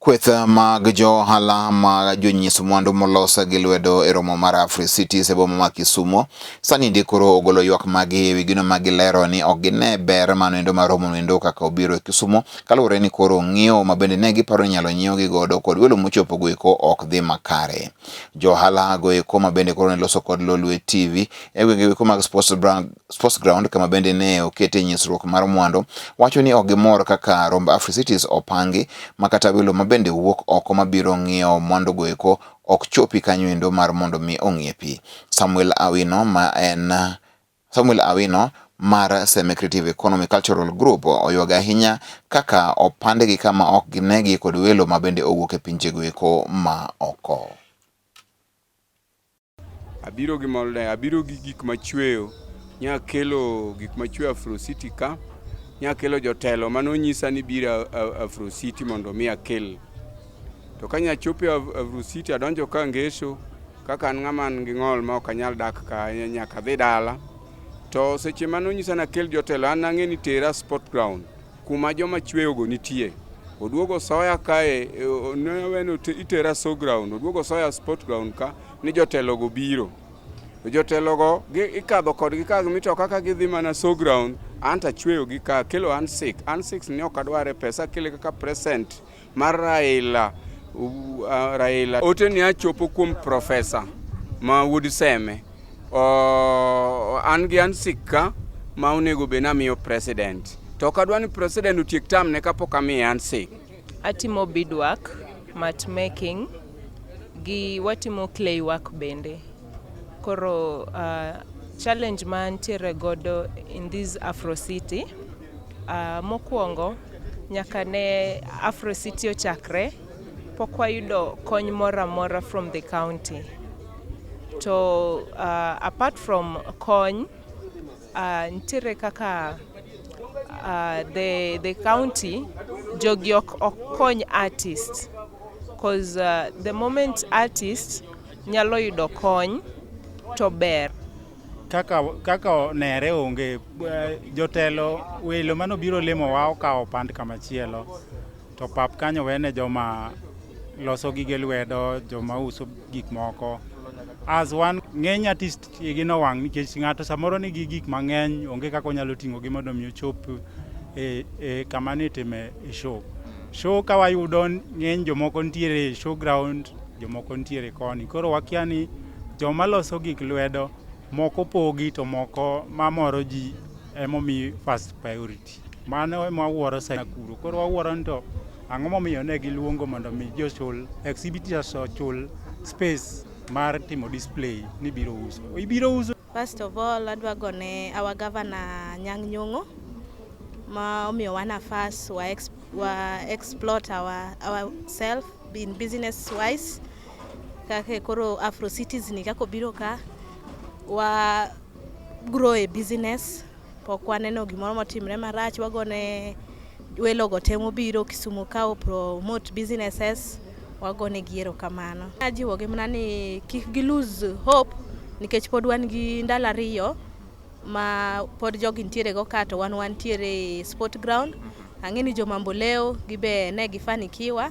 Kweth mag jo ohala mag jonyis mwandu molos gi lwedo e romo mar Afri Cities e boma ma Kisumo sani ndi koro ogolo ywak magi e wi gino ma gilero ni ok gine ber mano endo mar romo endo kaka obiro e Kisumo kaluwore ni koro ng'iewo ma bende ne giparo ni inyalo nyiewgi godo kod welo mochopo go eko ok dhi makare. Jo ohala go eko ma bende koro ne loso kod Lolwe TV e gwenge eko mag Sports Brand Sports Ground kama bende ne okete nyisruok mar mwandu wacho ni ok gimor kaka romb Africities opangi ma kata welo ma bende wuok oko mabiro ng'iewo mwandugo eko ok chopi kanyo endo mar mondo mi ong'iepi. Samuel Awino ma en Samuel Awino mar Seme Creative Economy Cultural Group oywago ahinya kaka opandgi kama ok ginegi kod welo ma bende owuok e pinjego eko ma oko. Abiro gi mor ne, abiro gi gik machweyo, nya kelo gik machweyo Afro City ka, nya kelo jotelo mane onyisa ni biro Afro City mondo mi akel. To ka nya chopo e Afro City adonjo ka Ngeso, kaka an ng'ama an gi ng'ol ma ok anyal dak ka nyaka adhi dala. To seche mane onyisa ni akel jotelo an nang'e ni tera sport ground. Kuma joma chweyogo nitie. Oduogo soya kae e, neweno itera so ground oduogo soya sport ground ka ni jotelogo biro jotelogo ikadho kodgi ka mito kaka gidhi mana so ground anta chweyo gi ka kelo an sik an sik ni ok adware pesa kele kaka present Mar Raila, uh, Raila ote ni achopo kuom profesa ma wuod Seme. Uh, an gi an sikka ma onego be namiyo president. To ok adwa ni president otiek tam ne kapok amiye an sik. Atimo beadwork, mat making gi watimo clay work bende. Koro uh, challenge ma antiere godo in this Afro City Uh, mokwongo nyaka ne Afro City ochakre pok wayudo kony moro amora from the county to uh, apart from kony uh, nitiere kaka uh, the, the county jogi ok ok kony artist cause uh, the moment artist nyalo yudo kony to ber Kaka, kaka onere onge eh, jotelo welo mane obiro limowa okawo pand kamachielo to pap kanyo wene joma loso gige lwedo joma uso gik moko as one ng'eny artist igi nowang' nikech ng'ato samoro nigi gik mang'eny onge kaka onyalo ting'o gi mondo mi ochop e, e kama nitime e show show ka wayudo ng'eny jomoko nitiere e show ground jomoko nitiere koni koro wakia ni Joma loso gik lwedo moko pogi to moko mamoro ji emomi first priority. Mano ema wawuoro sana kuro. Koro wawuoro ni to ang'o momiyo ne giluongo mondo mi jochul exhibitors ochul space mar timo display ni biro uso. Ibiro uso First of all, adwa gone our governor Nyang' Nyong'o ma omiyowa nafas wa, ex, wa exploit our, our self in business wise kaka koro Afro Cities ni kaka obiro ka wa grow a business Pok waneno gimoro motimre marach, wagone welogo temo biro Kisumu kawo promote businesses, wagone gi erokamano. Ajiwogi mana ni kik gi lose hope nikech pod wan gi ndalo ariyo ma pod jogi nitiere go ka to wan wantiere e sport ground. Ang'e ni joma Mboleo gibe ne gifanikiwa